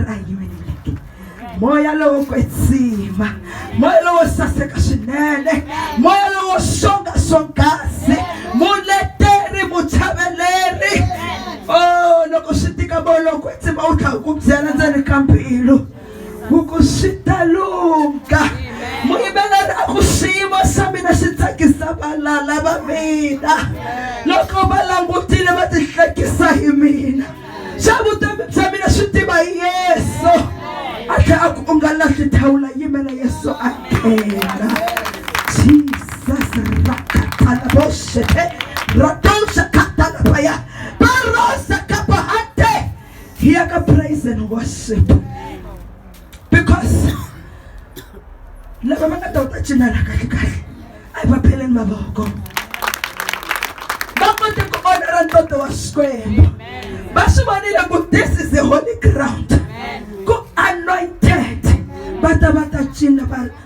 a hi yimeleleke moya lowo kwetsima moya lowo saseka swinene moya lowo songa swonghasi muleteri muchaveleri o oh, loko swi tika moya lowo kwetsima wu tlha ku byela ndzeni ka mbilu ku ku swi ta lunga muyimeleri a ku swiyimo swa mina swi tsakisa valala va mina loko va langutile va tihlekisa hi mina se vutomi bya mina swi tiva yesu a tlhe a ku u nga lahli thawula yimela yesu a nghena jesus rakatala boshete radosha katala paya barosa kapahante hiya ka praise and worship because lava va nga ta ta cinela kahle kahle a hi va pheleni mavoko va kote ku vona ra ntoto wa xikwembu va swi vonile ku this is a holy ground ku anointed va ta va ta cina va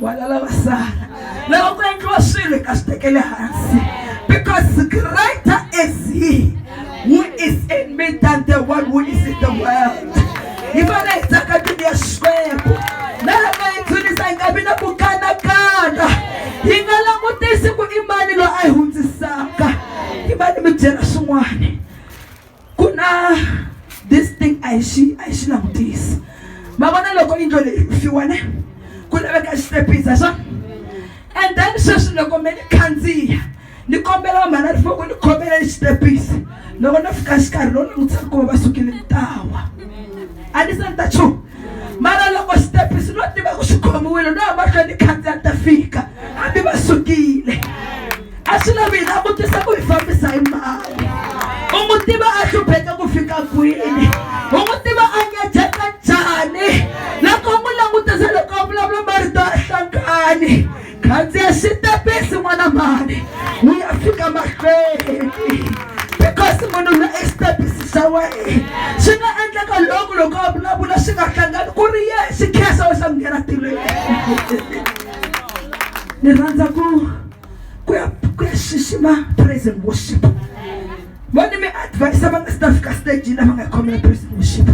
wala lava sala lava ku endliwa swilo hi ka swi tekele hansi because greater is he who is in me than the one who is in the world hi fane hi tsaka mbilu ya xikwembu na loko hi dzunisa hi nga vi na ku kanakana hi nga langutisi ku i mani loyi a yi hundzisaka hi mani mi byela swin'wana ku na this thing a hi xi a hi xi langutisi ma vona loko yindlo leyi fiwane ku laveka xitepisi a swona and then sweswi loko me ni khandziya ni kombela va mhana rifoko ni khomela ni xitepisi loko no fika xikarhi lowu ni n'wi tsakuma va sukile ntawa a ni se ni ta chumu mara loko xitepisi no tiva ku xi khomiwile no ya mahlweni khandziya ta fika hambi va sukile a swi lavi hina a vutisa ku hi fambisa hi mali u n'wi tiva a hlupheke ku fika kwini u n'wi tiva a nyajeka njhani loko u n'wi langutisa loko a vulavula marito a hlangani khandziya xitepisi n'wana mhani wu ya fika mahlweni because munhu la i xitepisi xa wena swi nga endleka loko loko a vulavula swi nga hlangani ku ri ye xi khensa we xa ku nghena tirhweni ni rhandza ku ku ya ku ya xixima praise and worship vone mi advise va nga si ta fika stagini lava nga khomela praise worship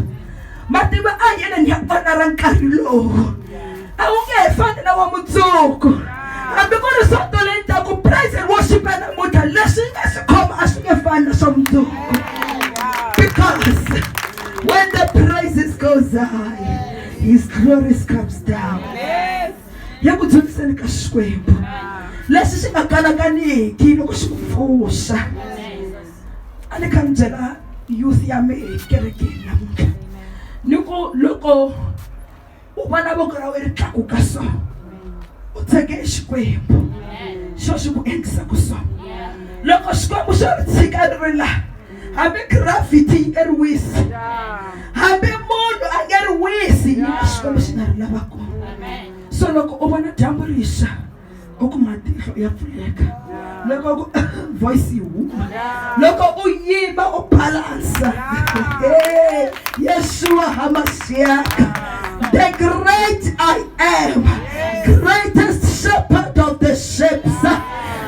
matimba a hi yeleni ya vana ra nkarhi lowu a wu nge he fani na wa mundzuku hambi ku ri soto leyi taku praise and worship ya namuntlha leswi yi nga swi khoma a swi nge fani na swa mundzuku because when the praises goes high his glories comes down ya ku dzundziseni ka xikwembu lexi xi nga kanakaniki loko xi ku pfuxa a ni kha ni byela youth ya me ekerekeni namuntlha ni ku loko u vona voko ra we ri tlakuka so u tshege xikwembu xo xi ku endlisa ku so loko xikwembu xo ri tshika ri ri laha hambi gravity yi nga ri wisi hambi munhu a nga ri wisi yi na xikwembu xi nga ri lava kona so loko u vona dyambu rixa u ku matihlo ya pfuleka loko ku voice yi huma loko u yima u balansa yeshuwa hamasiaka the great i am greatest shepherd of the ships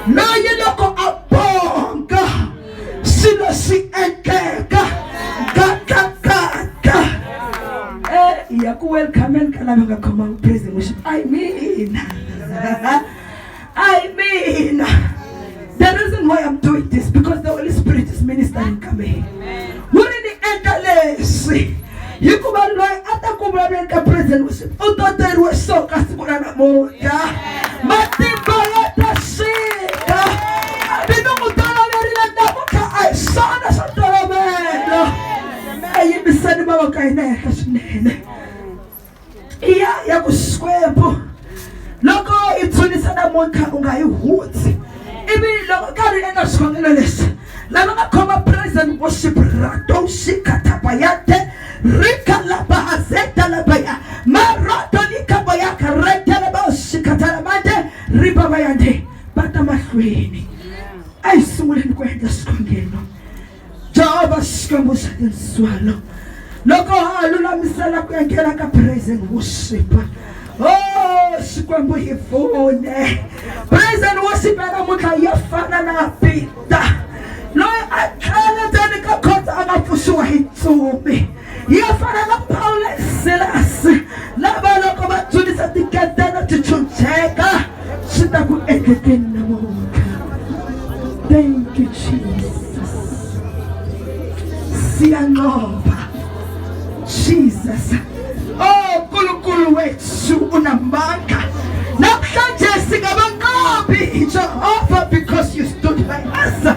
loyi loko a swilo swi endleka gagagaga hi ya ku welcomeni ka lava nga khomanga praise and worship i mina i mina the reason why i'm doing this because the holy spirit is ministering ka mehe wu ri ni endla leswi hikuva loyi a ta ku vulavuleni ka president worship u toteriwe so ka siku ra namuntlha matimba ya ta swika mina n'wi toloverile namuntlha a hi swona swa tolovela a yimisani vava ka hina henhla swinene i ya ya ku xikwembu loko i dzunisa namuntlha u nga yi hundzi ivi loko karhi u endla xikhongelo lexi lava nga khoma present worship radoshikatabayate rikalabahazedalabaya marodolikabaya retelebashikatalamate ribabayande va ta mahlweni a yi sunguleni ku endla xikhongelo Jehovha Xikwembu xa tindzwalo loko a lulamisela ku enghena ka praise and worship Oh, Xikwembu hi pfune. Praise and worship ya namuntlha ya fana na Peter loyi a tlhela ndzeni ka khotsa a nga pfuxiwa hi ntsumi. ya fana na pawulo ni silasi lava loko va dzunisa tiketana ti chucheka swi ta ku endlekeni namuntlha thank you jesus siyanqova jesus o oh, nkulunkulu wethu unamandla namhlanje singabanqobi jehova because you stood by us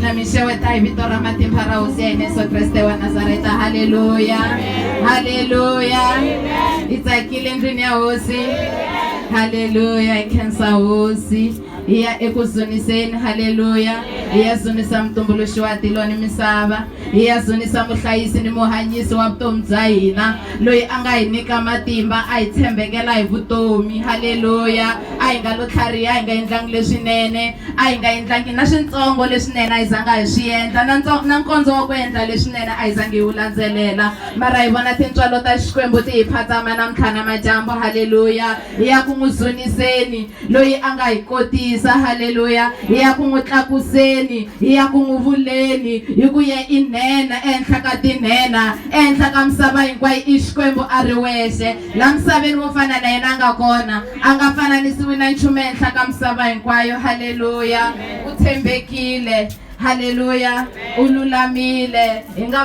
na mi xeweta hi vito ra matimba ra hosi ya hina yesu kreste wa nazareta halleluya halleluya hi tsakile ndlwini ya hosi halleluya hi khensa hosi hi ya eku zuniseni halleluya hi ya zunisa mutumbuluxi wa tilo ni misava hi ya zunisa muhlayisi ni muhanyisi wa vutomi bya hina loyi a nga hi nyika matimba a hi tshembekela hi vutomi halleluya a hi nga lo tlhariha hi nga endlangi leswinene a hi nga endlangi na swintsongo leswinene a hi zanga hi swi endla na na nkondzo wa ku endla leswinene a hi zangi hi wu landzelela mara hi vona tintswalo ta xikwembu ti hi phatsama namuntlha na madyambu halleluya hi ya ku n'wi zuniseni loyi a nga hi kotisa halleluya hi ya ku n'wi tlakuseni hi ya ku n'wi vuleni hi ku ye i nhenha ehenhla ka tinhenha ehenhla ka misava hinkwayo i xikwembu a ri wexe La misaveni wo fana na yena a nga kona, a nga fananisiwi na nchumu ehenhla ka misava hinkwayo. Haleluya! U tshembekile. Haleluya! U lulamile. Hi nga